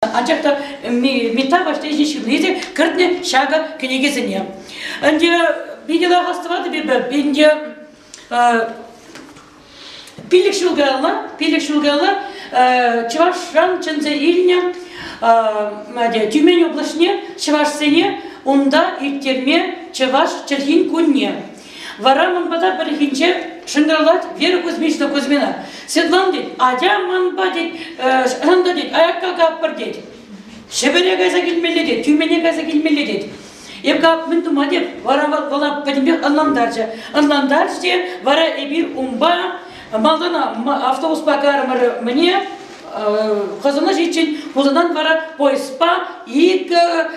анчах та Митта Ваҫлейшин ҫырни те кӗртнӗ ҫакӑ кӗнекесене. Ӗнтӗ питӗ лахас тӑватӑп эпӗ, ӗнтӗ пилӗк ҫул каялла, пилӗк ҫул каялла Чӑвашран чӗнсе илнӗ Тюмень облаҫне чӑвашсене унта ирттерме Чӑваш чӗлхин кунне Вара ман пата пӗррехинче шӑнкӑравлать Вера Кузьмична Кузьмина. Светлана тет, атя манпа тет, ӑнта тет, аякка каппӑр тет. Ҫӗпӗре кайса килмелле тет, тӳмене кайса килмелле тет. Эп кап мӗн тума теп, вара вӑла пӗтӗмпех ӑнлантарчӗ. Ӑнлантарчӗ те, вара эпир унпа малтан автобуспа кармӑр мне хӑсӑна ҫиччен, Хусанан вара поездпа икӗ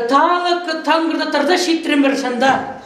талӑк тангырта тӑрса ҫитрӗмӗр шӑнта.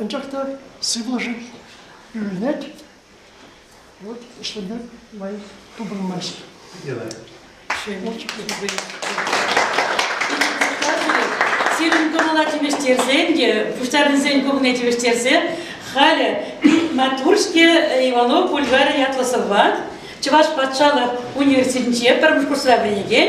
Анчах та сывлӑшӗ ӳренет, вот ӗҫлеме май тупӑнмасть. Сирӗн кӑмӑла тивӗҫтерсен те, пуҫтарнисен куҫне тивӗҫтерсе халӗ Матуршке Иванов бульварӗ ятлӑ сӑвват, Чӑваш патшалӑх университетӗнче пӗрремӗш курсра вӗренекен,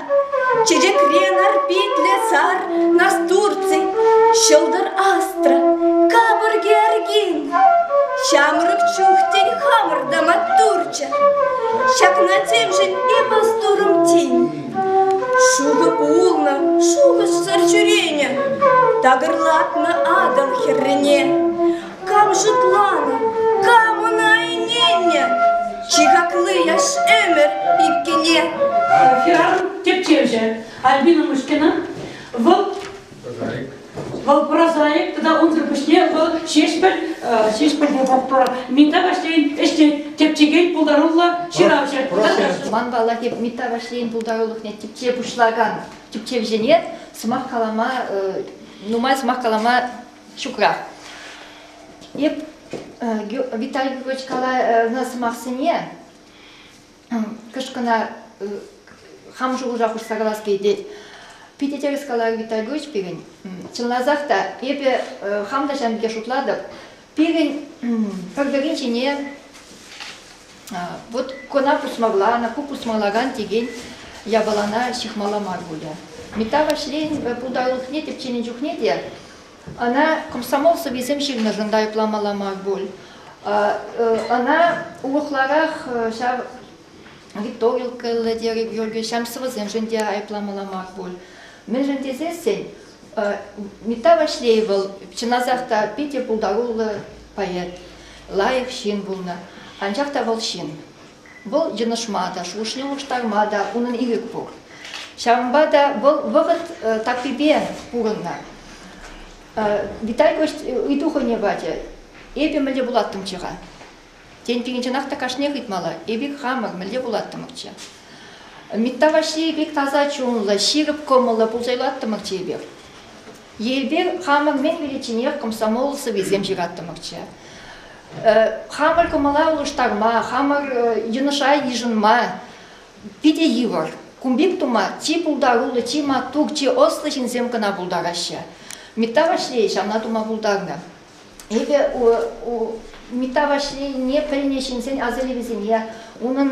Чечекре нар питлӗ сар, Нас Турций, ҫӑлтӑр астра, Капӑрки аркин, Ҫамрӑк чухтен хамӑр та маттурччӗ. Ҫакна темшӗн эпӗ сторӑм тин. Шухӑ пулнӑ шухӑшсӑр ҫӳренӗ, Такӑрлатнӑ атӑл хӗррине. Кам шутланӑ, кам ӑна ӗненнӗ? Чи хакли яш ӗмӗр иккӗне. Хӗрарӑм тӗпчевҫӗ Альбина Мышкина. Вӑл Вӑл прозаик тата унсӑр пуҫне вӑл Ҫеҫпӗл Ҫеҫпӗлте тухтӑр Митта Ваҫлейӗн ӗҫне тӗпчекен пултаруллӑ ҫыравҫӑ. Ман паллах эп Митта Ваҫлейӗн пултарулӑхне тӗпче пуҫлакан тӗпчевҫӗне сӑмах калама нумай сӑмах калама ҫукрах. Эп Виталий Григорьевич каланӑ сӑмахсене кӑшкӑна хам шухӑша хушса калас килет. Питӗ тӗрӗс каларӗ Виталий Григорьевич пирӗн. Чӑнласах та, эпӗ хам та ҫавӑн пекех шутлатӑп. Пирӗн пӗр-пӗрин ҫине Вот кона пусмоглана, ку пусмолаган текен япалана ҫыхмалла мар пулӗ. Мета ваҫрен путалӑхне тӗпченӗ чухне те ӑна комсомол сӑввисем ҫырнӑшӑн та айӑпламалла мар пуль. Ӑна улӑхларах ҫав гиптовилкӑллӑ терӗ Георгий ҫам сӑвӑсемшӗн те айӑпламалла мар пуль. Мӗншӗн тесессӗн Митта Ваҫлей вӑл чӑнасах та питӗ пултаруллӑ поэт, лайӑх ҫын пулнӑ. Анчах та вӑл ҫын. Вӑл йӑнӑшма та, шухӑшне улӑштарма та унӑн ирӗк пур. Ҫавӑнпа та вӑл вӑхӑт таппипе пурӑннӑ. Виталь Гость ыйту хӑйне пачӗ. Эпӗ мӗнле пулаттӑмччӗ-ха? Тен, пирӗнченах та кашниех ыйтмалла. Эпир хамӑр мӗнле пулаттӑмӑрччӗ? Митта Ваҫлейӗ пек таса чунлӑ, ҫирӗп кӑмӑллӑ пулса юлаттӑмӑрччӗ эпир. Эпир хамӑр мӗн виличченех комсомол сӑввисем ҫыраттӑмӑрччӗ. Хамӑр кӑмӑла улӑштарма, хамӑр йӑнӑша йышӑнма питӗ йывӑр. Кун пек тума чи пултаруллӑ, чи маттур, чи ӑслӑ ҫынсем кӑна пултараҫҫӗ. Митта Ваҫлей ҫавна тума пултарнӑ. Эпӗ Митта Ваҫлейне пӗлнӗ ҫынсен асилӗвӗсене, унӑн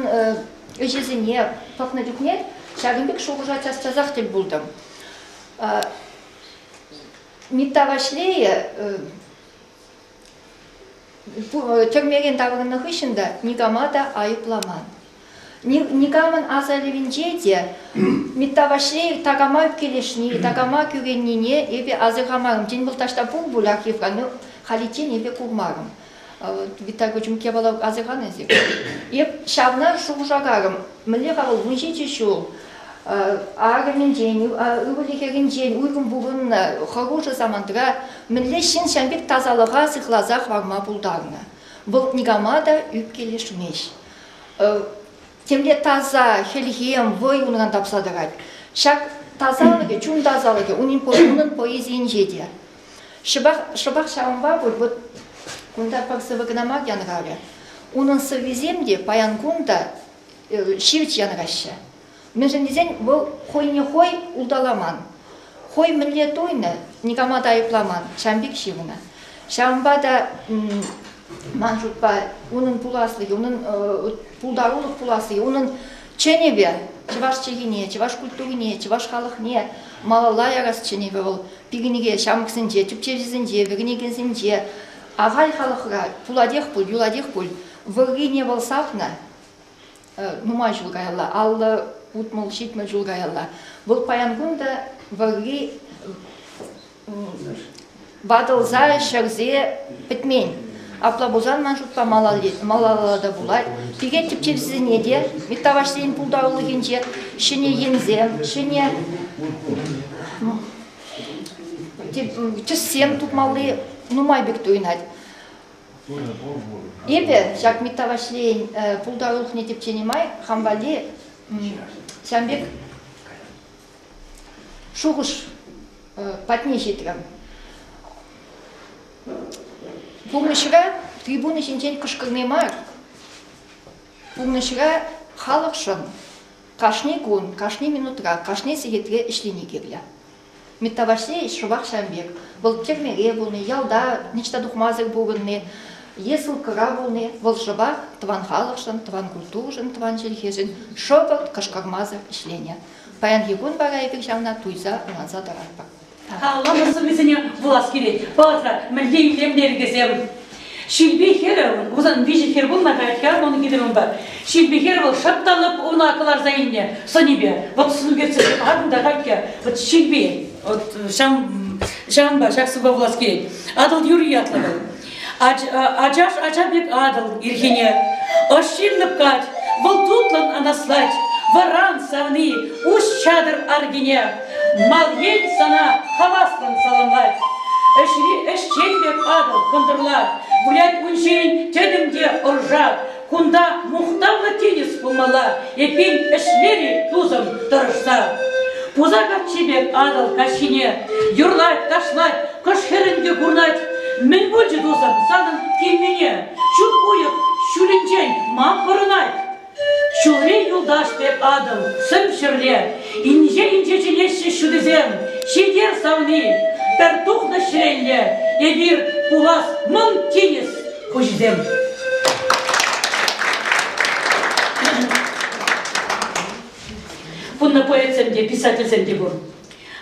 ӗҫӗсене пӑхнӑ чухне ҫакӑн пек шухӑша час-часах тӗл пултӑм. Митта Ваҫлейӗ тӗрмерен таврӑннӑ хыҫҫӑн та никама та айӑпламан. Никамӑн асаилӗвӗнче те Митта Ваҫлей такама килӗшни, такама кӳреннине эпӗ асӑрхамарӑм. Тен, вӑл таҫта пур пулях Ефра, но халиччен эпӗ курмарӑм. Витта Кочумк япала асӑрханӑ эсир. Эп ҫавна шухӑшакарӑм. Мӗнле-ха вӑл вун ҫичӗ ҫул арӑмӗнчен, ывӑлӗ хӗрӗнчен уйрӑм пурӑннӑ хӑрушӑ самантра мӗнле ҫын ҫав пек тасалӑха сыхласа хӑварма пултарнӑ? Вӑл никама та ӳпкелешмест. темле таса хӗлхем, вӑй унран тапса тӑрать. Ҫак тасалӑхӗ, чун тасалӑхӗ унӑн, унӑн поэзийӗнче те. Шӑпах, шӑпах ҫавӑнпа пуль вот кунта пӑрсӑвӗ кӑна мар янӑравлӗ. Унӑн сӑввисем те паян кун та ҫивӗч янӑраҫҫӗ. Мӗншӗн тесен вӑл хӑйне хӑй улталаман, хӑй мӗнле туйнӑ, никама та айӑпламан, ҫавӑн пек ҫывнӑ. Ҫавӑнпа та ман шутпа унӑн пуласлӑхӗ, унӑн пултарулӑх пуласлӑхӗ, унӑн чӗнӗвӗ чӑваш чӗлхине, чӑваш культурине, чӑваш халӑхне малалла ярас чӗнӗвӗ вӑл пикенӳке ҫамрӑксенче, тӗпчевҫӗсенче, вӗренекенсенче, ахаль халӑхра пулатех пуль, юлатех пуль, вӑррине вӑл сахнӑ. нумай ҫул каялла, алла утмӑл, ҫитмӗл ҫул каялла. Вӑл паян кун та вӑрри ватӑлса, ҫӗрсе пӗтмен. Апла пулсан ман шутпа малалла та пулать. Пике тӗпчевсене те Миттавашсен пултарулӑхӗнче ҫӗнӗ енсем, ҫӗнӗ тӗссем тупмалли нумай пек туйӑнать. Эпӗ ҫак Митта Ваҫлейӗн пултарулӑхне тӗпченӗ май хам валли ҫан пек шухӑш патне ҫитрӗм. Пурнӑҫра трибуна ҫинчен кӑшкӑрни мар, пурнӑҫра халӑхшӑн кашни кун, кашни минутра, кашни сехетре ӗҫлени кирлӗ. Миттаваҫне шӑпах ҫавӑн пек. Вӑл тӗрмере пулни, ялта ниҫта тухмасӑр пурӑнни е ссылкӑра пулни вӑл шӑпах тӑван халӑхшӑн, тӑван культурӑшӑн, тӑван чӗлхешӗн шӑпӑрт кӑшкӑрмасӑр ӗҫленӗ. Паянхи кун вара эпир ҫавна туйса ӑнланса тӑратпӑр. Калама сӑввисене вулас килет. Палӑртса, мӗнле илемлӗ йӗркесем! Ҫилпе хӗрӗ, Хусан виҫӗ хӗр пулнӑ каять-ха ун хитре унпа. Ҫилпе хӗр вӑл шӑпталӑп уна кӑларса илнӗ сӑнӗпе. Вӑт сӳнкерсе ан та хатька. Вӑт Ҫилпе, вот ҫам, ҫампа ҫак сывпа пулас килет. Атӑл юрри ятлӑ вӑл. Ачаш ача пек атӑл ирхине. Ӑш ҫиллӗп кать, вӑл тутлӑн анаслать. Вӑран савни, уҫ чатӑр аркине. Мал ен сана хаваслӑн саламлать. Ӗҫри ӗҫчен пек атӑл кӑнтӑрлат. Вылять ун ҫийӗн тӗтӗм те ӑршат. Кунта мухтавлӑ тинӗс пулмалла, эппин ӗҫлер-и тусӑм тӑрӑшса. Пуса каччи пек атӑл каҫхине юрлать, ташлать, кӑш хӗрӗн те курнать. Мӗн пулчӗ тусӑм санӑн килнине? Ҫут уйӑх ҫулӗнчен ман пӑрӑнать. Ҫулри юлташ пек атӑл сӗм ҫӗрле. Инҫе-инҫе чӗнеҫҫӗ ҫутисем ҫитер савни. Пӗр тухнӑ ҫӗрелле эпир пулас мӑн тинӗс хуҫисем. Кунна поэтсем те, писательсем те пур.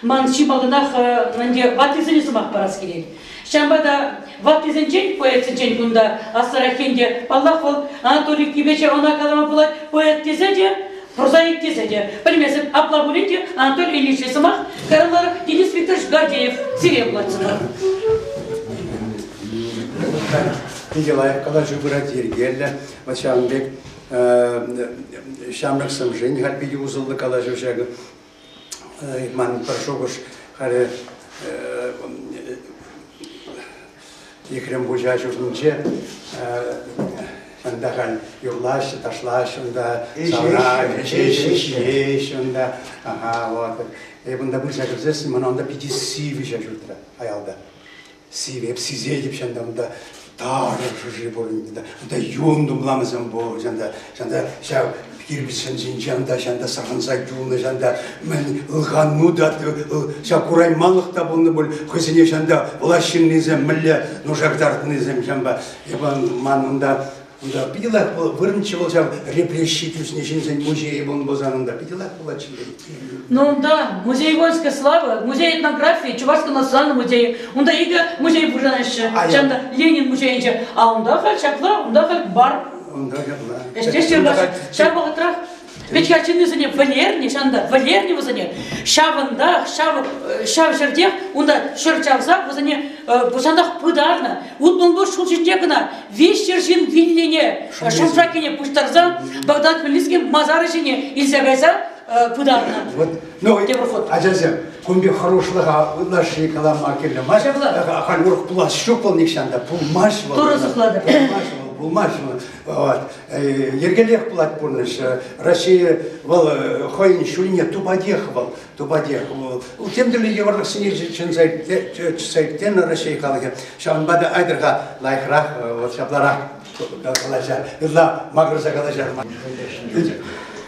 Ман чи малтанах ӗнтӗ ваттисене сӑмах парас килет. Ҫавӑнпа та ваттисенчен, поэтсенчен кунта аслӑрах ӗнтӗ, паллах, вӑл Анатолий Кипече ӑна калама пулать поэт тесе те, прозаик тесе те, пӗлмесен апла пулин те Анатолий Ильичный сӑмах каланӑ Денис Викторович Гордеев сире вулатсӑмӑр. Питӗ лайӑх калаҫу пырать, йӗркеллӗ. Вот ҫавӑн пек ҫамрӑк сӑмшин питӗ усӑллӑ калаҫу ҫакӑ. Ман пӗр шухӑш халӗ Ехрем Пуҫа ҫуртӗнче Унта халь юрлаҫҫӗ, ташлаҫҫӗ унта, савра ӗҫеҫҫӗ, ҫиеҫҫӗ унта. Ага, вот. Эп унта пырса кӗрсессӗн, мана унта питӗ сивӗҫе ҫутрӗ аялта. Сире сисетӗп чӑн та унта тарӑн шӑши пур унта, унта юн тумламӗсем пур чӑн та, чӑн та ҫав кирпичсен ҫинчен та чӑн та сӑрхӑнса юлнӑ чӑн та мӗн ылханну та ҫав курайманлӑх та пулнӑ пуль хӑйсене чӑн та влаҫ ҫыннисем мӗнле нушартарнисем чӑнпа эпӗ ман унта Кунта питӗ лат вӑл вырӑнччӗ вӑл ҫав репрессии тӳснӗ ҫынсен музейӗ пулнӑ пулсанӑнта питӗ лат пулатчӗ Ну да, музей воинской славы, музей этнографии, Чувашского национального музея. Унта икӗ музей пурӑнаҫҫӗ. Чан та Ленин музейӗнче. А унта халь ҫапла, унта халь бар. Унта ҫапла. Ӗҫтеш Чӑн вӑхӑтрах Ведь я чыннисене вӗлернӗ, ҫавӑнта вӗлернӗ вӗсене. Ҫавӑнтах, ҫав, ҫав ҫӗртех унта ҫӗр чавса вӗсене ҫавӑнтах пытарнӑ. Улпӑн-пур ҫул ҫинче кӑна виҫ ҫӗр ҫын вилнине, шӑмшакине пуҫтарса Багдад Мелницкий масарӗ ҫине илсе кайса пытарнӑ. Вот, ну, ачасем, кун пек хӑрушлӑха ытлашши калама кирлӗ мар. Ҫапла, ахаль урӑх пулас ҫук вӑл нихҫан та. Пулмасть вӑл. Турӑ сыхлатӑр. Пулмасть вӑл, пулмасть вӑл. Йӗркеллех пулать пурнӑҫ. Россия вӑл хӑйӗн ҫулне тупатех вӑл, тупатех вӑл. Тем тӗрлӗ йывӑрлӑхсене чӗнсе чӗтсе тенӗ Россия халӑхӗ. Ҫавӑнпа та айтӑрха лайӑхрах, вот ҫапларах калаҫар, ытла макӑрса калаҫар.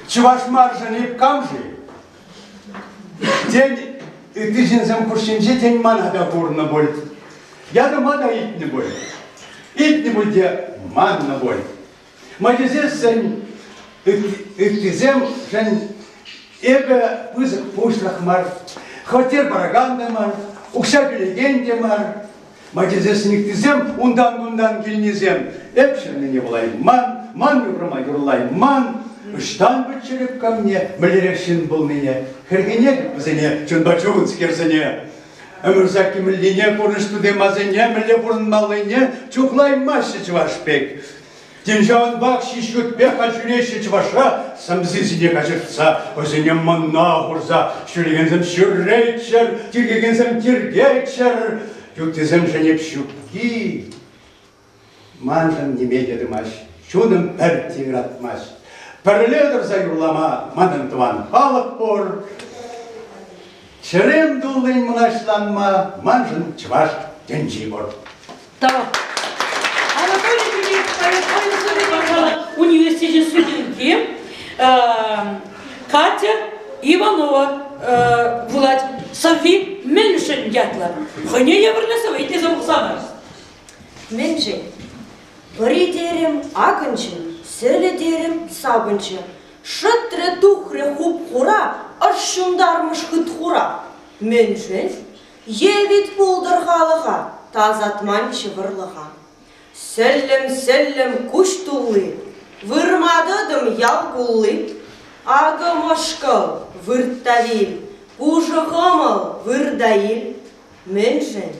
Чӑваш маршӗн эп кам-ши? Тен, ытти ҫынсем хушшинче, тен, мана та курнӑ пуль. Ятӑма та илтнӗ пуль. Илтнӗ пуль те маннӑ пуль. Моисейсен ыттисемшӗн эпӗ пысӑк пуҫлӑх мар, хваттер паракан та мар, укҫа кӳрекен те мар, Мачӑсен никтисем унтан-кунтан килнисем эп ҫӗннине вулайман, ман ҫухрӑма юрлайман, ӑҫтан пӗтчӗрӗп камне мӗнлерех ҫын пулнине, хӗрхенетӗп вӗсене чунпа чунскерсене. Ӗмӗрсакки мӗнлине, курнӑҫ тутемасене, мӗнле пурӑнмаллине чухлаймаҫҫӗ чӑваш пек. Тен, ҫавӑнпах ҫич ютпех ҫӳреҫҫӗ чӑвашра, сӗмсисене каҫӑртса, вӗсене мӑнна хурса, ҫӳрекенсем ҫӳреччӗр, тиркекенсем тиркеччӗр, юттисемшӗн эп ҫукки. Маншӑн ниме те тымасть, чунӑм пӗр тиратмасть. Пӗрле тӑрса юрлама манӑн тӑван халӑх пур. Чӗрем туллин мӑнаҫланма маншӑн чӑваш тӗнчи пур. Тав. Анатолий Юрьевич Поясовин сӑвви, пожалуй, университечӗн студентки Катя Иванова вулать сӑвви Мӗншӗн ятлӑ. Хӑйне евӗрлӗ сӑвви тесе вулсанӑр. Мӗншӗн? Пӑри терӗм, акӑнчӗ, сӗлӗ терӗм, сапӑнчӗ. Шӑтрӗ тухрӗ хуп-хура, ӑш ҫунтармӑш хыт-хура. Мӗншӗн? Е вит пултӑр халӑха, тасатманччӗ вӑрлӑха. Сӗллӗм-сӗллӗм куҫ тулли, вырма тӑтӑм ял кулли. Акӑ мӑшкӑл, вырт та вил, пушӑ хӑмӑл, выр та ил. Мӗншӗн?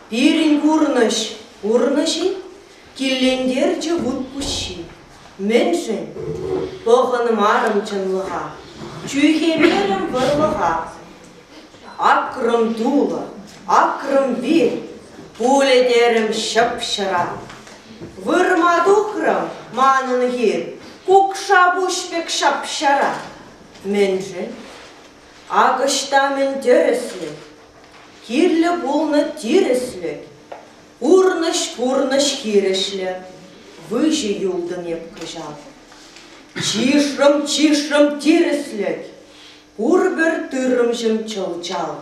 Пирӗн пурнӑҫ пурнӑҫ-и? киллентерчӗ вут пуҫҫи. Мӗншӗн? Пӑхӑнмарӑм чӑнлӑха, чӳхемерӗм вӑрлӑха. Акрӑм тулӑ, акрӑм вир, пулӗ терӗм ҫӑп-ҫӑра. Вырма тухрӑм манӑн хир, кукша пуҫ пек ҫап-ҫара. Мӗншӗн? Ак ӑҫта мӗн тӗрӗслӗ, Кирлӗ пулнӑ тирӗслӗ, Пурнӑҫ-пурнӑҫ хирӗҫлӗ, Выҫӑ юлтӑн эп кӑҫал. Чышрӑм-чышрӑм тирӗслӗк, Пурпӗр тыррӑмҫӑм чӑл-чал.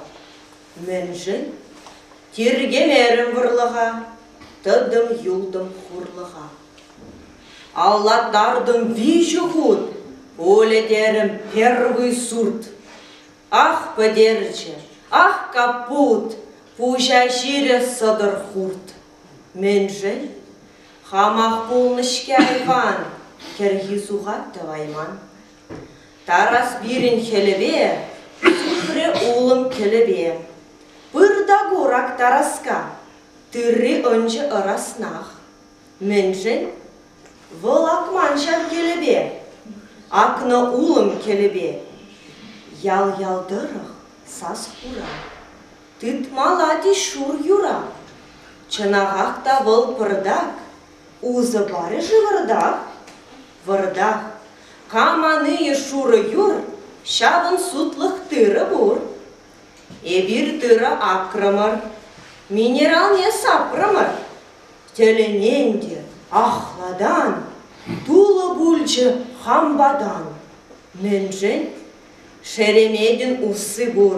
Мӗншӗн? Тиркемерӗм вӑрлӑха, Тӑтӑм-юлтӑм хурлӑха. Аллатартӑм виҫӗ хут, Пулӗ терӗм первый сурт. Ах, пӗтерчӗ, ах, капут, Пуҫа ҫирӗ сӑтӑр хурт. Мӗншӗн? Хамах пулнӑ-ҫке айван, Кӗрхи сухат тӑвайман. Тарас пирӗн хӗлӗпе, Тухрӗ улӑм кӗлӗпе. Пыр та курак Тараска, Тырри ӑнчӗ ӑраснах. Мӗншӗн? Вӑл акман ҫав кӗлӗпе, акнӑ улӑм кӗлӗпе. Ял-ял тӑрӑх сас хура, тытмалла тӗс шур юра. Чӑнахах та вӑл пӑртак, усӑ парӗ-ши вӑртах? Вӑртах, кам анийӗ шурӑ юр, ҫавӑн сутлӑх тырӑ пур. Эпир тырӑ акрӑмӑр, минералне сапрӑмӑр, Тӗлӗнен те ахлатан тулӑ пулчӗ хампатан. Мӗншӗн? Шереметӗн усси пур.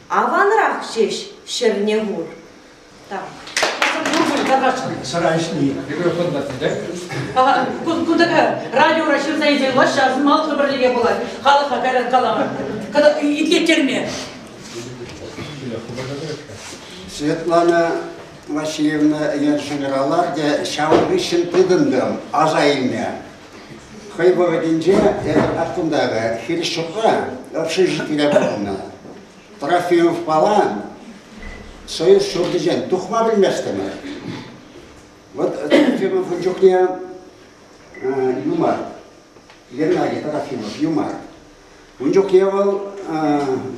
Аванрах ҫеҫ ҫӗрне хур. Так. Сӑран ҫни. Микрофон патне Кунтака радиора ҫырса илсен малхи пӗрлӗхе пулать. Халӑха кайран калама. Кӑна итлеттерме. Светлана Васильевна ӗнер генераларте ҫавӑн хыҫҫӑн тытӑнтӑм, аса илме. Хӑй вӑхӑтӗнче эпӗ паткунтарӗ хирӗҫ ҫуртра общежитире пурӑннӑ. Трофимовпала Союз ҫуртӗнчен тухма пӗлместӗмӗр. Вот Трофимов ун чухне юмар, Геннадий Трофимов юмар. Ун чухне вӑл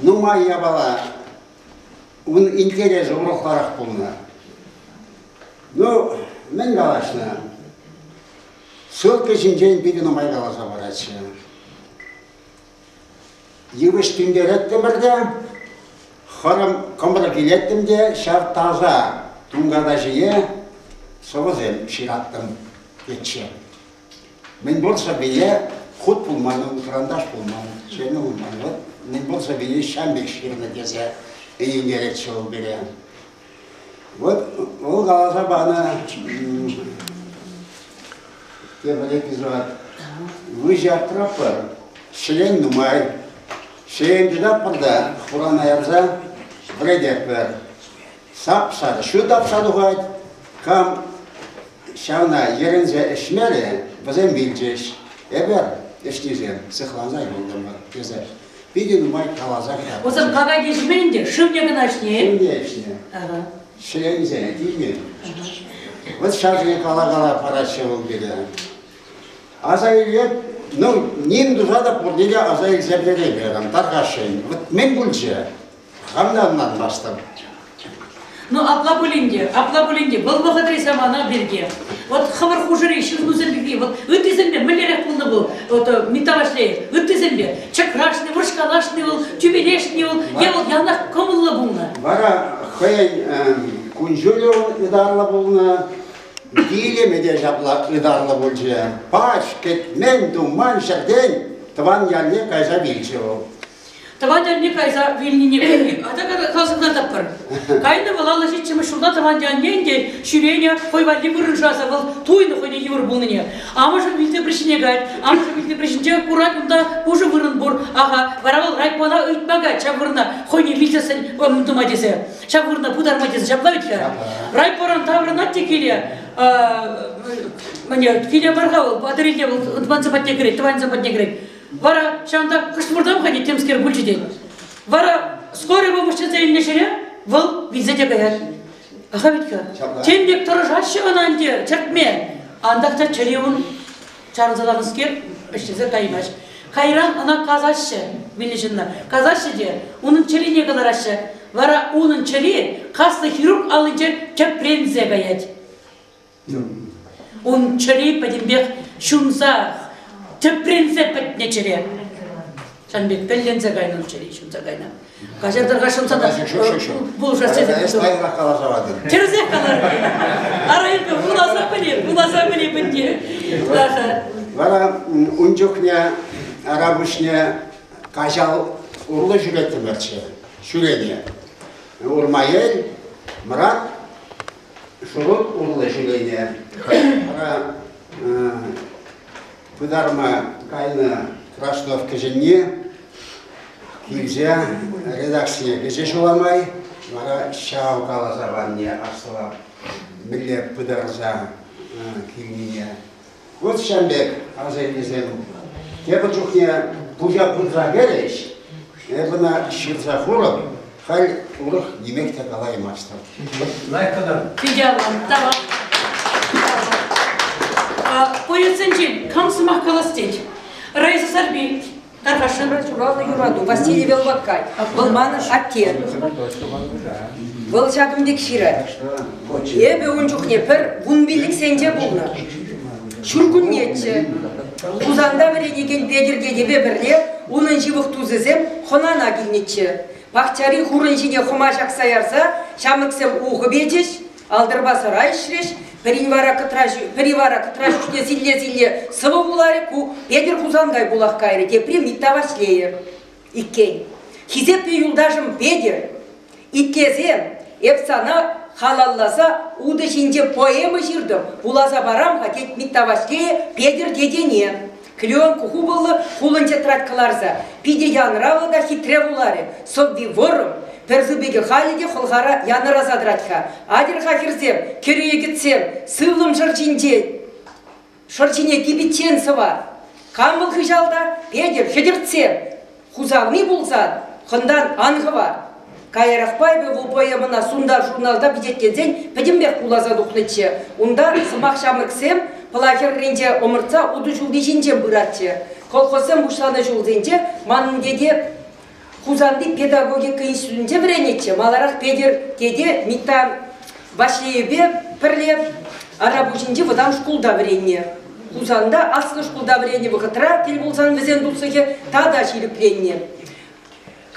нумай япала Ун интерес урӑхларах пулнӑ. Ну, мӗн калаҫнӑ? Ссылка ҫинчен питӗ нумай каласа паратчӗ. Йывӑҫ тӳнтереттӗмӗр те, хӑрӑм кӑмрӑк илеттӗм те ҫав таса тунката ҫине сӑвӑсем ҫыраттӑм тетчӗ. Мӗн пур сӑввине хут пулман, кӑранташ пулман, ҫӗнӗ пулман. Вӑт мӗн пур сӑввине ҫам пек ҫырнӑ тесе ӗнентеретчӗ вӑл пире. Вот вӑл каласа панӑ тепӗр эпизод. Вы же от прапор член нумай. Член тытаппӑр та хурана ярса вӗрететпӗр. Сап-сар ҫу тапса тухать. Кам ҫавна йӗрӗнсе ӗҫмерӗ, вӗсем вилчӗҫ. Эпӗ ӗҫнисем сыхланса юлтӑмӑр, тесе питӗ нумай каласа кӑтартнӑ. Усӑм кака кӗҫме ӗнтӗ, шывне кӑна ӗҫнӗ-и? Шывне ӗҫнӗ. Ҫӗленсе илмен. Вот ҫашни кала-кала параҫҫӗ вӑл пире. Аса иле, ну, ним туса та пурне те аса илсе переймерӗм, тархасшӑн. Вот мӗн пулчӗ? Хам та ӑнланмастӑм. Ну, апла пулин те, апла пулин те, вӑл вӑхӑтри самана пирки, вот хӑвӑр хушӑри ҫырнусем пирки, вот ыттисемпе мӗнлерех пулнӑ вӑл, вот э, Митта Ваҫлейӗв, ыттисемпе чӑкрашни, вӑрҫкалашни вӑл, тӳперешни вӑл, е вӑл янах кӑмӑллӑ пулнӑ. Вара хӑйӗн э, кун-ҫулӗ ытарлӑ пулнӑ, вилӗмӗ те ҫапла ытарлӑ пулчӗ. Пач, кӗтмен, туман ҫӗртен тӑван ялне кайса вилчӗ вӑл. Тӑван ялне кайса вилнине асӑрхатӑпӑр. Кайнӑ вӑл аллӑ ҫиччӗмӗш ҫулта тӑван ялне ӗнтӗ ҫӳренӗ хӑй валли вырӑншаса вӑл туйнӑ хӑйне йывӑр пулнине. Амӑшӗ вилсе пӗрҫине каять, амӑшӗ вилсе пӗрҫинче курать унта пушӑ вырӑн пур. Аха, вара вӑл райпона ыйтма каять ҫав вырӑна хӑйне вилсессӗн тӑма тесе, ҫав вырӑна пытарма тесе ҫапла вӗт-ха. Райпоран таврӑнать те киле мане киле бар-ха вӑл, патӑрелле вӑл тӑвансем патне кӗрет, тӑванӗсем патне кӗрет. Вара ҫавӑнтах куҫмуртам-ха тет, темскер пулчӗ тет. Вара скорый помощь тесе илнӗ ҫӗре вӑл вилсе те каять. Аха Витька, тем пек тӑрӑшаҫҫӗ ӑна ӗнтӗ чӗртме. Антах та чӗре ун чарӑнса ларнӑскер ӗҫлесе каймасть. Кайран ӑна касаҫҫӗ вилнӗ ҫынна. Касаҫҫӗ те унӑн чӗрине кӑлараҫҫӗ. Вара унӑн чӗри каслӑ хирург аллинче тӗпренсе каять. Ун чӗри пӗтӗмпех ҫунса, тӗпренсе пӗтнӗ чӗре. Сан пек пӗлленсе кайнӑ чӗри ҫунса кайнӑ. Каҫар тӑрка ҫунса та пулӑшас тесе. Эсӗ каласа патӑн. Тӗрӗсех каларӑн. Ара эпӗ вуласа пӗлем, вуласа пӗлем ӗнтӗ. Вара ун чухне Арапуҫне каҫал урлӑ ҫӳреттӗмӗрччӗ, ҫӳрене. Урмаел, Мрак, шурут урлӑ ҫӳрене вара пытарма кайнӑ Краснов кӗҫӗнни килсе редакцине кӗчӗ ҫула май, вара ҫав каласа панне аслӑ мӗнле пытарса килнине Вот ҫав пек асаннесем тепӗр чухне пуҫа пырса кӗрӗҫ, эп ӑна ҫырса хурӑп, халь урӑх нимех те калаймастӑп. Лайкӑдан. Фидиаллам, тавах. А, поэтсенчен кам сӑмах калас тет? Раиса Сарпи, Тархашевра ҫуралнӑ юрату Василий Велваккай. Вӑл манӑн атте. Вӑл ҫакӑн пек ҫырать. Эпӗ ун чухне пӗр вун пиллӗксенче пулнӑ. Ҫуркуннеччӗ. Хусанта вӗренекен Петӗр тетепе пӗрле унӑн ҫывӑх тусӗсем хӑнана килнӗччӗ. Пахчари хурӑн ҫине хӑма ҫакса ярса ҫамрӑксем ухӑ печӗҫ, Алтӑрпа сарай ӗҫрӗҫ. Пӗри вара кӑтраҫ, пӗри вара кӑтраҫ ҫӳҫне силле-силле сӑвӑ вуларӗ. Ку Петӗр Хусанкай пулах кайрӗ, тепри Митта Ваҫлейӗ иккен. Хисеплӗ юлташӑм Петӗр, итлесен эп сана халалласа утӑ ҫинче поэма ҫыртӑм, вуласа парам-ха, тет Митта Ваҫлейӗ Петӗр тетене. Клеенкку хупӑллӑ хулӑнчӑ трать кӑларса. Питӗ янӑравлӑ та хитре вуларӗ. Сӑвви вӑрӑм, пӗр сыпӑкӗ халӗ те хӑлхара янӑраса тӑрать-ха. Атьӑр-ха, хӗрсем, кӗрӳекӗтсем, сывлӑм шӑрҫинче шӑрҫине типиччен сӑва. Кам вӑл хыҫалта? Петӗр, хӗтӗртсем! Хусанни пулсан, хӑнтан ан хӑвар. Каярахпа эпӗ ВПМна сунтар-журналта пичетленсен пӗтӗмпех куласа тухнӑччӗ. Унта сӑмах ҫамрӑксем Пӑла хӗрринче ӑмӑртса утӑ ҫулли ҫинчен пыратчӗ. Колхозсем пуҫланӑ ҫулсенче манӑн тете Хусанти педагогика институтӗнче вӗренетчӗ, маларах Петӗр тете Митта Ваҫлейӗпе пӗрле Арапуҫӗнчи вӑтам шкулта вӗреннӗ. Хусанта аслӑ шкулта вӗреннӗ вӑхӑтра тӗл пулсан вӗсен туслӑхӗ тата ҫирӗпленнӗ.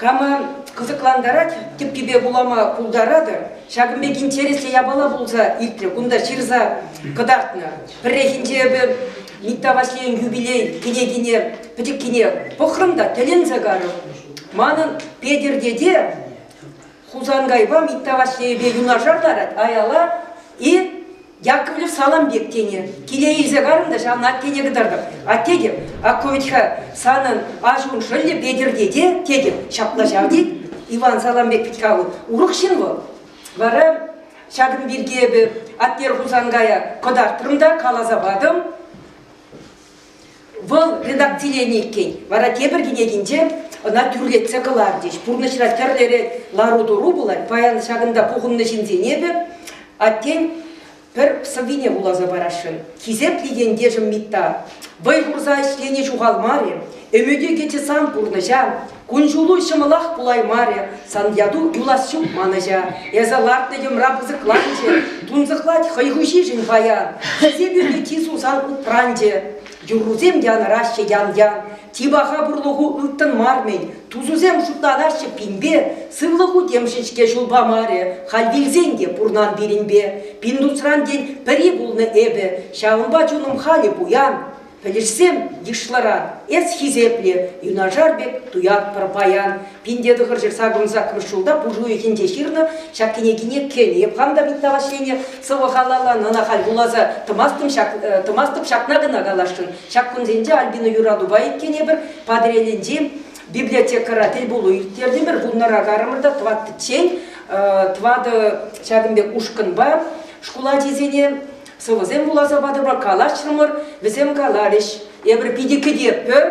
Кама кӑсӑклантарать тӗппипе вулама пултаратӑр. Ҫакӑн пек интереслӗ япала пулса иртрӗ кунта ҫырса кӑтартнӑ. Пӗррехинче эпӗ Митта Ваҫлейӗн юбилей кӗнекине пӗчӗккине пӑхрӑм та тӗлӗнсе карӑм. Манӑн Петӗр тете Хусанкайпа Митта Ваҫлейӗпе юнашар ларать, аяла и Яковлев салам пек тенӗ. Киле илсе карӑн та ҫавна аттене кӑтартӑп. Атте тет, ако ведь-ха санӑн аҫун шӑллӗ Петӗрте те, тетӗп, ҫапла ҫав тет. Иван салам пек пит каву. Урӑх ҫын вӑл. Вара ҫакӑн пирки эпӗ Аттер Хусанкая кӑтартрӑм та каласа патӑм. Вӑл редакциленӗ иккен, вара тепӗр кӗнекинче ӑна тӳрлетсе кӑларчӗҫ. Пурнӑҫра тӗрлӗ лару-тӑру пулать. Паян ҫакӑнта пухӑннӑ ҫынсен эпӗ аттен пӗр сӑввине вуласа парасшӑн. Хисеплӗ ентешӗм Митта, вӑй хурса ӗҫлени ҫухалмарӗ. Ӗмӗтӳ кӗчӗ сан пурнӑҫа. Кун-ҫулу ҫӑмӑлах пулаймарӗ, сан яту юлас ҫук манӑҫа. Эсӗ лартнӑ йӑмра пысӑкланчӗ, тунсӑхлать хӑй хуҫишӗн паян. Хӗсе пирки Тису сан упранчӗ. Юррусем янӑраҫҫӗ ян-ян. Типаха пурлӑху ылтӑн мар-мӗн. Тусусем шутланаҫҫӗ пинпе, сывлӑху темшӗн-ҫке ҫул памарӗ. Халь вилсен те пурнан пирӗнпе. Пиндусран, тен, пӗри пулнӑ эпӗ. Ҫавӑнпа чунӑм халӗ пуян. Пӗлӗшсем йышлӑран эс хисеплӗ, юнашар пек туятпӑр паян. Пинте тӑхӑр ҫырса курӑн саккӑрмӗш ҫулта пуш уйӑхӗнче ҫырнӑ ҫак кӗнекине кӗнӗ. Эп хам та Митта Ваҫлейне сӑвӑ-халаллан ӑна халь вуласа тӑмастӑм ҫак, э, тӑмастӑп ҫакна кӑна каласшӑн. Ҫак кунсенче Альбина юратупа иккен эпир Патӑрьелӗнчи библиотекӑра тӗлпулу ирттертӗмӗр. Пулнӑра карӑмӑр та тӑваттиччен э, тӑватӑ ҫакӑн пек ушкӑнпа шкул ачисене Сӑвӑсем вуласа патӑмӑр, калаҫрӑмӑр, вӗсем каларӗҫ. Эпир питӗ кӗтетпӗр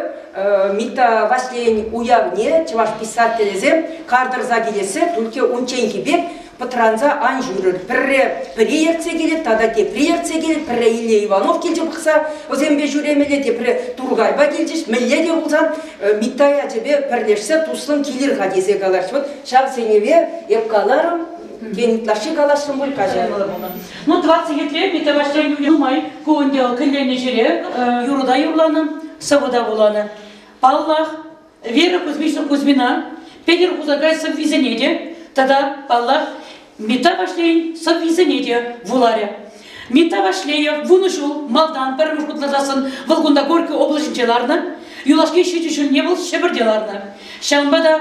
Митта Ваҫлейӗн уявне, чӑваш писателӗсем кар тӑрса килессе, Тульке унчченхи пек пӑтранса ан ҫӳрӗр, пӗрре пӗри ертсе килет тата тепри ертсе килет, пӗрре Илле Иванов килчӗ пӑхса вӗсемпе ҫӳремелле, тепре Туркайпа килчӗҫ, мӗнле те пулсан Митта ячӗпе пӗрлешсе туслӑн килӗр-ха тесе калаҫ. Вот ҫав сӗнӗве эп каларӑм, тен, ытлашши каласшӑн пуль каҫа. Ну, 27-ре Петровасьрен нумай ку ӗнтӗ вӑл кӗленнӗ ҫӗре юрӑта юрланӑ, сӑвӑта вуланӑ. Паллах, Вера Кузьмина Петӗр Хусанкай сӑввисене те тата, паллах, Митта Ваҫлейӗн сӑввисене те вуларӗ. Митта Ваҫлеев вунӑ ҫул малтан пӗрремӗш хутланасӑн вӑл кунта Горький облаҫӗнче ларнӑ. Юлашки ҫичӗ ҫулне вӑл Ҫӗпӗрте ларнӑ. Ҫавӑнпа та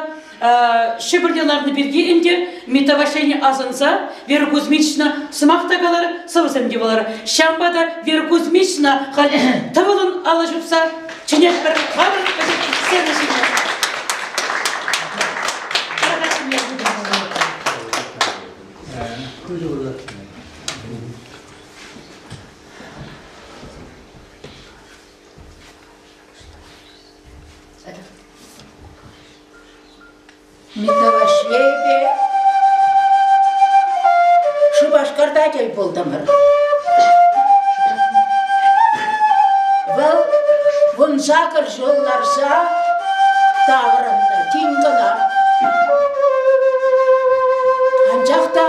Ҫӗпӗрте ларнӑ пирки ӗнтӗ метавашени асӑнса Вера Кузьмична сӑмах та калар, сӑвӑсем те вулар. Ҫавӑнпа та Вера Кузьмична халь тӑвӑлӑн алӑ ҫупса чӗнет пӗр хамӑр вӗсен сцена ҫине. Митавашееве Шупашкарта тӗл пултӑмӑр. Вӑл вун сакӑр ҫул ларса таврӑннӑ, тин кӑна. Анчах та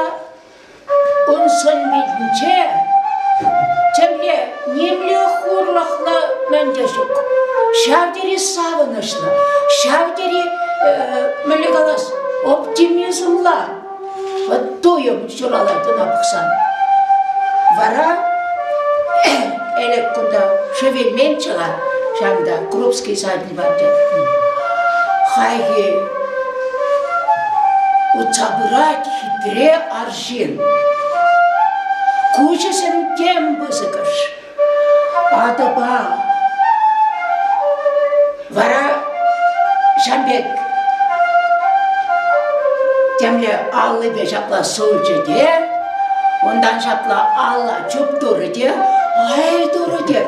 Ун сӑн-питӗнче тӗлне нимле хурлӑхлӑ мӗн те ҫук. Ҫав тери савӑнӑҫлӑ, ҫав тери, мӗнле калас, оптимизмла вот туйӑм ҫуралать ӑна пӑхсан. Вара Элек кунта шевельмен чӑла, ҫавӑнта Крупский садик. патӗ. Хайхи утса пырать хитре арҫын. Куҫӗсем тем пысӑкӑш. Атӑпа. Вара ҫам пек темле аллипе ҫапла сулчӗ те унтан ҫапла алла Чуп турӗ те, ай турӗ те,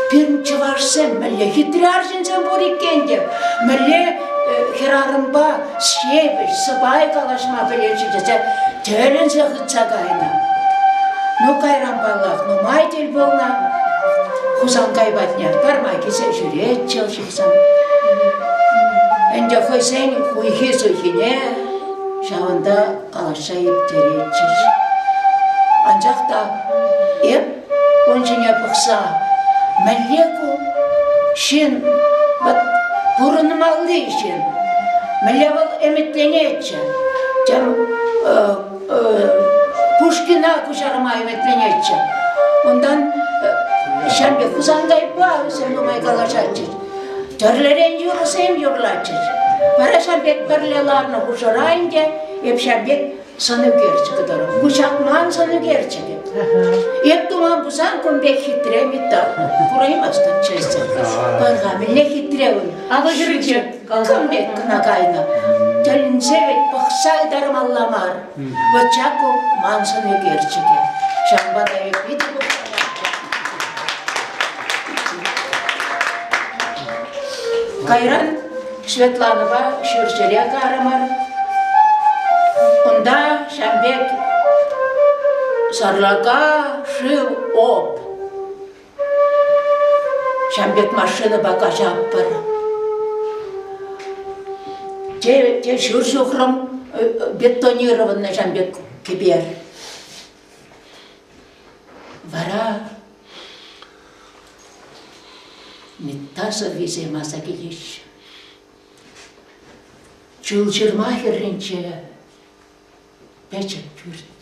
пирӗн чӑвашсем мӗнле хитре арҫынсем пур иккен те, мӗнле хӗрарӑмпа ҫепӗҫ сӑпай калаҫма пӗлетчӗ тесе тӗлӗнсе хытса кайнӑ. Ну кайран паллах нумай тӗл пулнӑ. Хусанкай патне парма килсе ҫӳретчӗ вӑл ҫыхсан. Ӗнтӗ хӑйсен хуйхи-суйхине ҫавӑнта калаҫса ирттеретчӗҫ. Анчах та эп ун ҫине пӑхса мӗнле ку ҫын вот пурӑнмалли ҫын мӗнле вӑл ӗмӗтленетчӗ тем э, э, Пушкина куҫарма ӗмӗтленетчӗ унтан э, ҫам пек Хусанкайпа вӗсем нумай калаҫатчӗҫ Тӗрлӗрен юрӑсем юрлатчӗҫ. Вара ҫав пек пӗрле ларнӑ хушӑра ӗнтӗ эп ҫав пек сӑнӳкерчӗк тӑрӑх вучахман сӑнӳкерчӗкӗ. Эп туман пулсан кун пек хитре металл кураймастӑп чесӗр. Пӑрхамилле хитре ун. Алӑ ҫӳрече. Кам пек кӑна кайнӑ. Тӗлӗнсе вӗт пӑхса ытармалла мар. Вӑт Чаку маншӑн ӳкерчӗкӗ. Ҫавӑнпа та эп питӗ кӑмӑллатӑп. Кайран Светланӑпа ҫурҫӗрех арӑмӑр. Унта ҫав пек сарлака шыв оп. Ҫан пек машинӑпа каҫатпӑр. Те, те ҫур ҫухрӑм э, бетонированный ҫан пек кӗпер. Вара метасӑрвисем аса килеҫҫӗ. Чул ҫырма хӗрринче пӗчӗк пӳрт.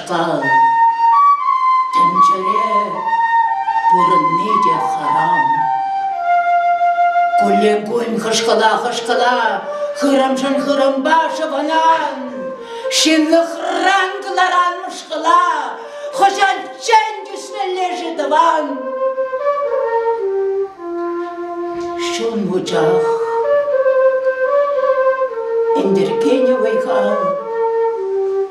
тӑн. Тӗнчере пурӑнни те хӑрам. Куллен-куллен хӑшкӑла-хӑшкӑла хырӑмшӑн хырӑмпа шӑвӑнан. Ҫынлӑхран кӑларан мӑшкӑла хӑҫанччен тӳсмелле-ши тӑван? Чун вучах ӗнтӗркенӗ вӑйха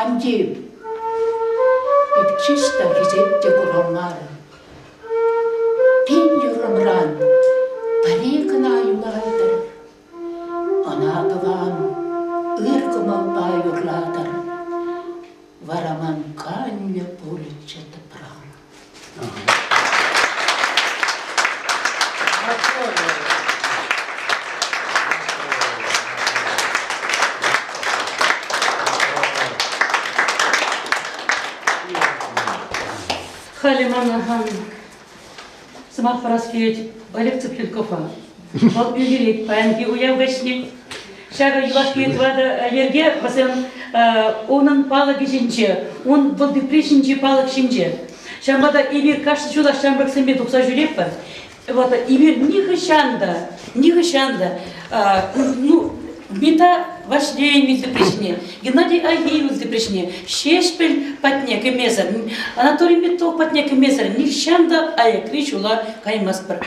Антип, эпчиш та хисет те курамарӗ. Пин юрӑмран пӗри кӑна юлайтӑр. Ӑна тӑван ыр кӑмӑлпа юрлатӑр. Вара ман канлӗ пулӗччӗ тӑпран. Халӗ манӑн сӑмах парас килет Олег Цыпленковпа. Вӑл пӗлтерет паянхи уяв вӗҫне. Ҫакӑ юлашки тӑватӑ йӗрке вӗсем унӑн палӑкӗ ҫинче, ун вӑл тепри ҫинчи палӑк ҫинче. Ҫавӑнпа та эпир кашни ҫулах ҫамрӑксемпе тухса ҫӳретпӗр. Вот эпир нихӑҫан та, нихӑҫан та, ну, Бинта Ваҫлейӗн вилтӑприҫне, Геннадий Агеевӑн вилтӑприҫне Ҫеҫпӗл патне кӗмесӗр, Анатолий Петров патне кӗмесӗр нихҫан та аякри ҫула каймастпӑр.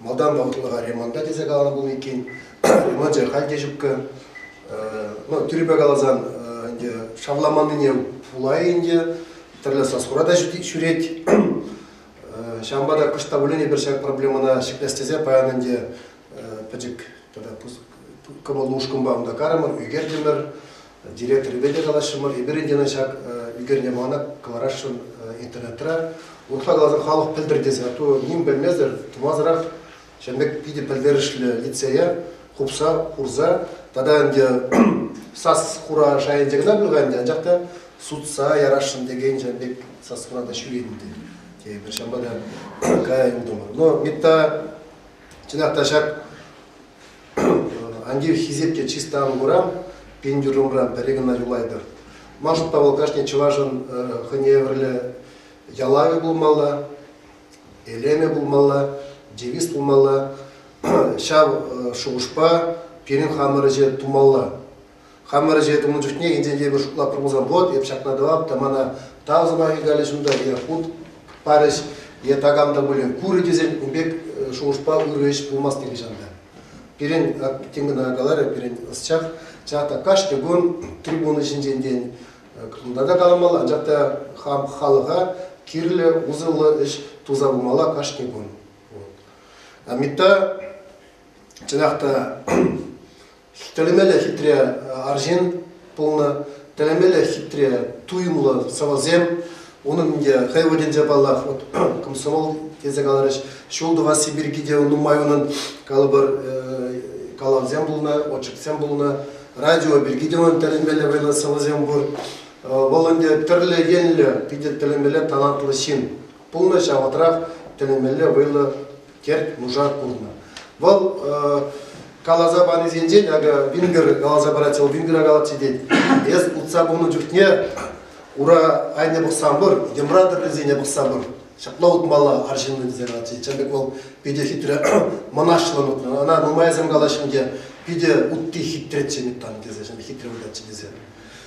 малтан вӑхӑтлӑха ремонта тесе каланӑ пулнӑ иккен. Ремончӗ халь те ҫупкӑ. Ну, тӳрӗпе каласан, ӗнтӗ шавламаннине пулай ӗнтӗ. Тӗрлӗ саскура та ҫӳрет. Ҫавӑнпа та кӑшт та пулин эпир ҫак проблемӑна ҫӗклес тесе паян ӗнтӗ пӗчӗк тата кӑмӑл-мушкӑнпа унта карӑмӑр, ӳкертӗмӗр. Директорӗпе те калаҫрӑмӑр. Эпир ӗнтӗ ӑна ҫак ӳкерне мана кӑларасшӑн интернетра. Урӑхла каласан халӑх пӗлтӗр тесе, а то ним пӗлмесӗр тумасӑрах ҫавӑн пек питӗ пӗлтерӗшлӗ лицее хупса хурса тата ӗнтӗ сас хура шайӗнче кӑна пулха ӗнтӗ, анчах та сутса ярасшӑн текен ҫавӑн пек сас хура та ҫӳрет ӗнтӗ тейӗпӗр. Ҫавӑнпа та кая ӗнтӗ. Но Митта чӑнах та ҫак Ан тив, хисепте чыста ан курам, пин дюрӑмра пӗр-ик кӑна юлайтӑр. Ман шутпа вӑл кашни чӑвашӑн хӑйне евӗрлӗ ялавӗ пулмалла, элемӗ пулмалла, девиз пулмалла. Ҫав шухӑшпа пирӗн хамӑр ӗҫе тумалла. Хамӑр ӗҫе тунӑ чухне инҫетри пӗр шутла промыслав завод, эп ҫакна тӑвап та мана тав сӑмахӗ калӗҫ унта, е хут парӗҫ, е такам та пулин курӗ тесен ун пек э, шухӑшпа ырӑ ӗҫ пулмасть нихӑҫан та. Пирӗн, тем кӑна каларӗ, пирӗн ӑсчах, чӑнах та кашни кун трибуна ҫинчен тен кунта та каламалла, анчах та хам халӑха кирлӗ, усӑллӑ ӗҫ туса пымалла кашни кун. Вот. Амита, чӑнах та Тӗлӗмелле хитре арҫын пулнӑ, тӗлӗмелле хитре туйӑмлӑ сӑвӑсем. Унӑн ӗнтӗ хӑй вырӑнӗнче паллах вот комсомол тесе каларӗҫ. Ҫул тӑвасси пирки те нумай унӑн калӑпӑр калавсем пулнӑ, очерксем пулнӑ, радио пирки те унӑн тӗлӗнмелле вӑйлӑ сӑвӑсем пур. Вӑл ӗнтӗ тӗрлӗ енлӗ питӗ тӗлӗнмелле талантлӑ ҫын пулнӑ, ҫавӑнтрах тӗлӗнмелле вӑйлӑ терт-нуша курнӑ. Вӑл каласа панисенчен, акӑ, Вингер каласа парать, вӑл Вингера калатчӗ тет. Эс утса кунӑ чухне ура айне пӑхса пыр, йӑмра тӗррисене пӑхса пыр. Ҫапла утмалла арҫыннӑн тесе калатчӗ. Тем пек вӑл питӗ хитре мӑнаҫлӑн утнӑ. Ӑна нумайсем калаҫҫӗ те, питӗ утти хитреччӗ Миттан тесе, хитре вылятчӗ тесе.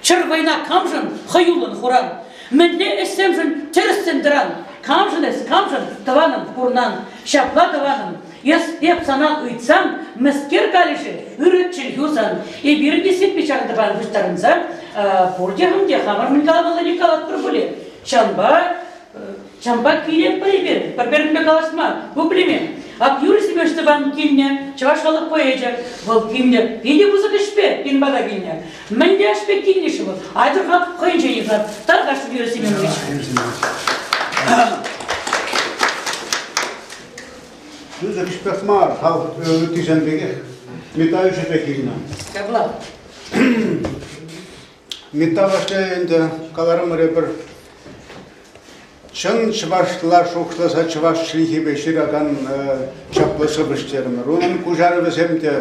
Чӗр вӑйна камшӑн хӑюллӑн хуран? Мӗнле ӗҫсемшӗн тӗрӗссӗн тӑран? Камшӑн эс, камшӑн, тӑванӑм, пурнан? Ҫапла, тӑванӑм, эп сана ыйтсам, мӗскер калӗ-ши, ырӑ чӗлхӳ сан? Эпир те сирпе ҫак тӑван пуҫтарӑнса пурте хам те хамӑр мӗн калаҫмаллине калатпӑр пулӗ. Ҫавӑнпа Ҫавӑнпа кирек эпир пӗр-пӗринпе калаҫма пуплеме. Ак Юрий Семенович тӑван килне, чӑваш халӑх поэчӗ, вӑл килне питӗ пысӑк ӗҫпе кин пата килнӗ. Мӗн те ӗҫпе килнӗ-ши вӑл? Айтӑрха хӑйӗнче йӑхӑр. Тархасшӑн Юрий Семенович. Пысӑк ӗҫпех мар, халӑх ыттисем пекех. Митающи те килнӗ. Ҫапла. Митафа ӗнтӗ, каларӑмӑр эпир, чӑн чӑвашла шухӑшласа чӑваш чӗлхипе ҫыракан чаплӑ сӑвӑҫ терӗмӗр. Унӑн куҫарӑвӗсем те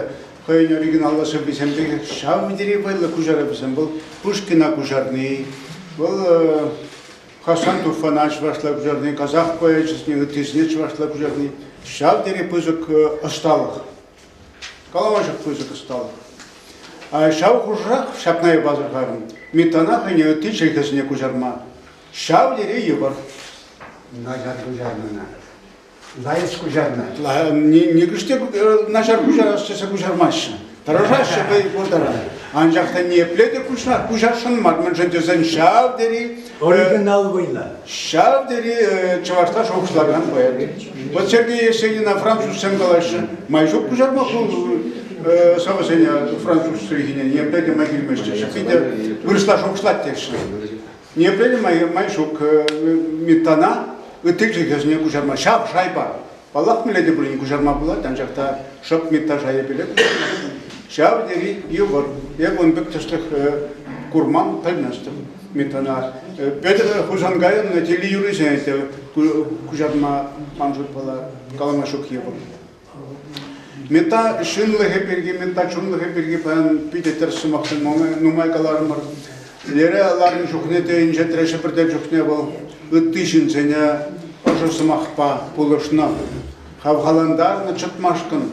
хӑйӗн оригиналлӑ сӑввисем пекех ҫав тери вӑйлӑ куҫарӑвӗсем. Вӑл Пушкина куҫарни, вӑл Хасан Туфана чӑвашла куҫарни, казах поэчӗсене, ыттисене чӑвашла куҫарни, ҫав тери пысӑк ӑсталӑх. Калавӑнчӑк пысӑк ӑсталӑх. Ҫав хушӑрах ҫакна пасӑрхарӑм. Митана хӑйне ытти чӗлхесене куҫарма. Ҫав тери йывӑр. Начар куҫарнӑна. Лайӑх куҫарнӑ. Нихӑш те начар куҫарас тесе куҫармаҫҫӗ. Тӑрӑшаҫҫӗ вӑй пуртаран. Анчах та ниепле те куҫарсшӑн мар, мӗншӗн тесен ҫав тери Оригинал вӑйлӑ. Ҫав тери чӑвашла шухӑшлакан поэт. Вот Сергей Есенина французсем калаҫҫӗ. Май ҫук куҫарма ху сӑвӑсене француз чӗлхине. Не пӗлӗ май килмеҫҫӗ. Питӗ вырӑсла шухӑшлать тешли. Не пӗлӗ май ҫук Митана ытти чӗлхесене куҫарма. Ҫав шайпа Паллах, мӗнле те пулин куҫарма пулать, анчах та шӑп миттаж айӑпелле куҫарман. Ҫав тери йывӑр. Эпӗ ун пек тӗслӗх курман, пӗлместӗп Миттана. Петӗр Хусанкайӑн телеюрисене те куҫарма ман шутпала калама ҫук йывӑр. Мета ҫынлӑхӗ пирки, мета чунлӑхӗ пирки паян питӗ тӗрӗс сӑмах нумай каларӑмӑр. Тӗлере ларнӑ чухне те инҫетре Ҫӗпӗрте чухне вӑл ытти ҫынсене ӑшӑ сӑмахпа пулӑшнӑ, хавхалантарнӑ чӑтмашкӑн.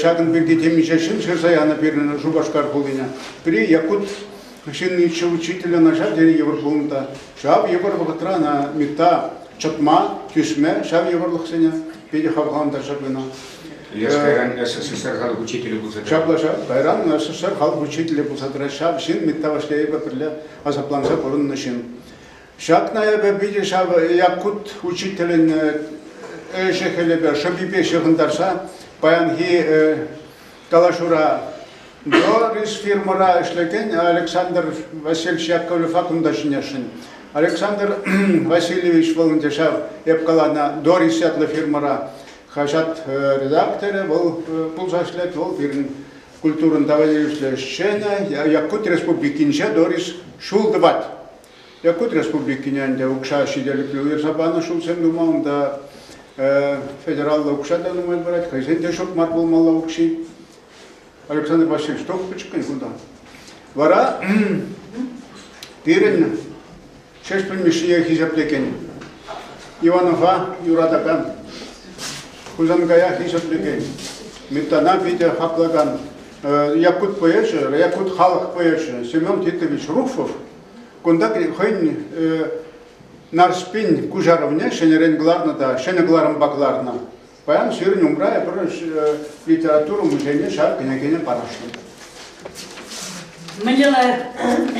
Ҫакӑн пирки темиҫе ҫын ҫырса янӑ пирӗн Шупашкар хулине. Пӗри якут ҫынниччӗ, учителӗ начар тенӗ йывӑр пулнӑ та. Ҫав йывӑр вӑхӑтра ӑна МИТа чӑтма, тӳсме, ҫав йывӑрлӑхсене Питӗ хавхалантарчӗ кӑна. Леш кайран СССР халӑх учителӗ пулса тӑрать. Ҫапла-ша, кайран СССР халӑх учителӗ пулса тӑрать. Ҫав ҫын, Миттаваш Яйпа пӗрле асапланса пурӑннӑ ҫын. Ҫакна эпӗ питӗ ҫав Якут учителӗн ӗҫӗ-хӗлӗпе, шӑпипе ҫыхӑнтарса паянхи Калаҫура Горис фирмӑра ӗҫлекен Александр Васильевич Яковлевпа кунта ҫӳнесшӗн. Александр Васильевич вӑл ӗнтӗ ҫав, эп каланӑ Дорис ятлӑ фирмӑра хаҫат редакторӗ вӑл пулса ӗҫлет, вӑл пирӗн культурӑн товарищлӗ ӗҫченӗ, Якут Республикинче Дорис ҫул тӑвать. Якут Республикине ӗнтӗ укҫа ҫителӗклӗ уйӑрса панӑ ҫулсем тума унта федераллӑ укҫа та нумай парать, хӑйсен те ҫук мар пулмалла укҫи. Александр Васильевич, тухтӑр чиккен кунта. Вара пирӗн Ҫеҫпӗл Мишшие хисеплекен Иванова юратакан, Хусанкая хисеплекен, Митана питӗ хаклакан якут поэчӗ, якут халӑх поэчӗ Семен Титович Руфов Кунта хӑйӗн Нарспин куҫарӑвне ҫӗнӗрен кӑларнӑ та ҫӗнӗ кӑларӑмпа кӑларнӑ. Паян сирӗн умра эпир литература музейне ҫар кӗнекине парӑҫнӑ. Мӗнле лайӑх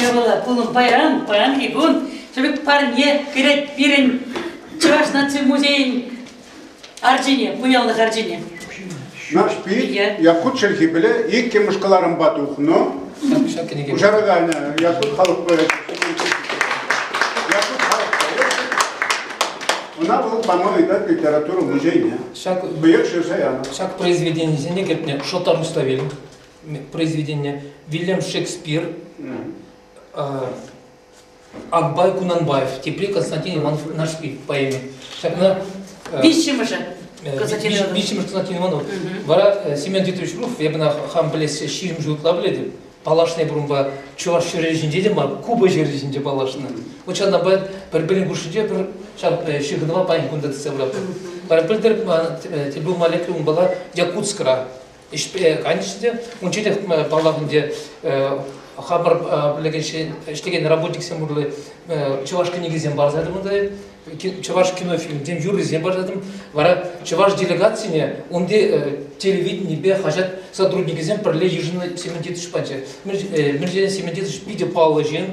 япала пулӑм паян, паянхи кун тӗрӗк парне кӗрет пирӗн Чӑваш наци музейӗн Арчине, пуянлӑх арчине. Нарспи Якут чӗлхи пӗле иккӗмӗш кӑларӑмпа тухнӑ. Куҫараканӗ Якут халӑх поэчӗ. Якут халӑх поэчӗ. Ӑна вӑл пама ыйтать литература музейне. Быяр шырса янӑ. Ҫак произведенисене кӗртнӗ Шоттар Муславель произведение, Вильям Шекспир, Акбай Кунанбаев, тепри Константин Иванов Нашки поэми. Ҫакна э, виҫҫӗмӗшӗ э, Константин Иванов. Виҫҫӗмӗш Константин Иванов. Вара э, Семен Дмитриевич Руф, я бына хам білессе ҫирӗм жыл ытла білетім. Паллашнай бұрынба чӑваш ҫӗрі ҫинче те мар, Куба ҫӗрі ҫинче паллашнӑ. Вот ҫавна бай пӗр-пӗрин хушшинче пӗр ҫав ҫыхӑнӑва паянхи кунта тытса пыратпӑр. Пӗр пӗлтӗр тебе умалетли унбала Якутскра ӗҫпе кайнӑччӗ те, унччен те, паллах, ӗнтӗ хамӑр пӗлекен, ӗҫлекен работниксем урлӑ чӑваш кӗнекисем парса ятӑмӑр та, чӑваш кинофильмсем, юррисем парса ятӑм. Вара чӑваш делегацине унти телевиденипе хаҫат сотрудникӗсем пӗрле йышӑннӑ Сементитович пачӗ. Мирзиен Сементитович питӗ паллӑ ҫын,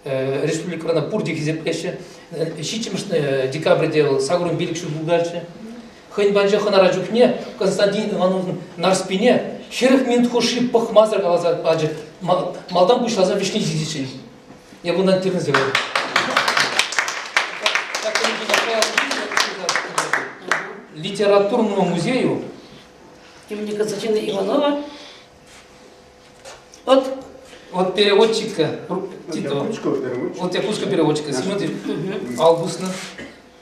республикӑрана пурте хисеплеҫҫӗ. Ҫиччӗмӗш декабрьте вӑл сакӑрун пилӗк ҫул пултарчӗ. Хӑйӗн патӗнче хӑнара чухне Константин Ивановӑн Нарспине ҫӗрӗк минут хушши пӑхмасӑр каласа пачӗ. Малтан пуҫласа вӗҫне ҫитиччен. Я буду антирнзе говорить. Литературному музею имени Константина Иванова от вот переводчика титла. Вот у тебя пушка переводчика. Смотри, Августна.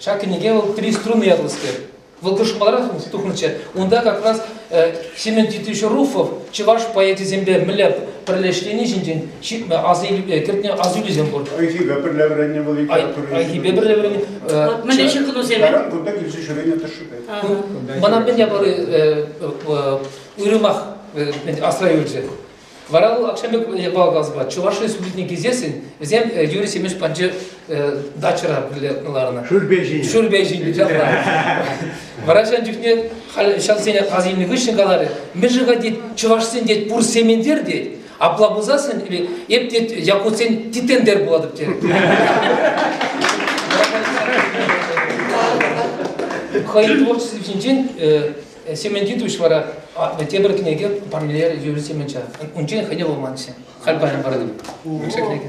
Ҫак кӗнеке вӑл «Три струны» ятлӑскер. Вӑл тӑшманрах тухнӑччӗ. Унта как раз Семен Титович Руфов чӑваш поэчӗсемпе мӗнле пӗрлешрени ҫинчен ҫитнӗ аса кӗртнӗ асилӳсем пур. Айхипе пӗрле вӗреннӗ вӑл литература. Айхипе пӗрле вӗреннӗ. Мӗнле ҫыхӑнусем? Таран кунта килсе ҫӳренӗ тӑшшипе. Мана мӗн япали уйрӑмах асра юлчӗ. Вара вӑл акҫан пек япала каласпа Чӑваш Республикине килсессӗн вӗсем Юрий Семенович панчи дачӑра пӳле ларнӑ. Шӳрпе ҫинӗ. Шӳрпе ҫинӗ Вара ҫан чухне халь ҫавсене аз илнӗ хыҫҫӑн каларӗ, мӗн-ши-ха тет, чӑвашсен тет пур семендер тет, апла пулсассӑн или эп тет якутсен титендер пулатӑп тет. Хӑйӗн творчество ҫинчен Семен Дидович вара тепӗр кӗнеке Пармилер Юрий Семенча. Унчен хӑйне вулманччӗ. Халь паян паратӑп. Микша кӗнеке.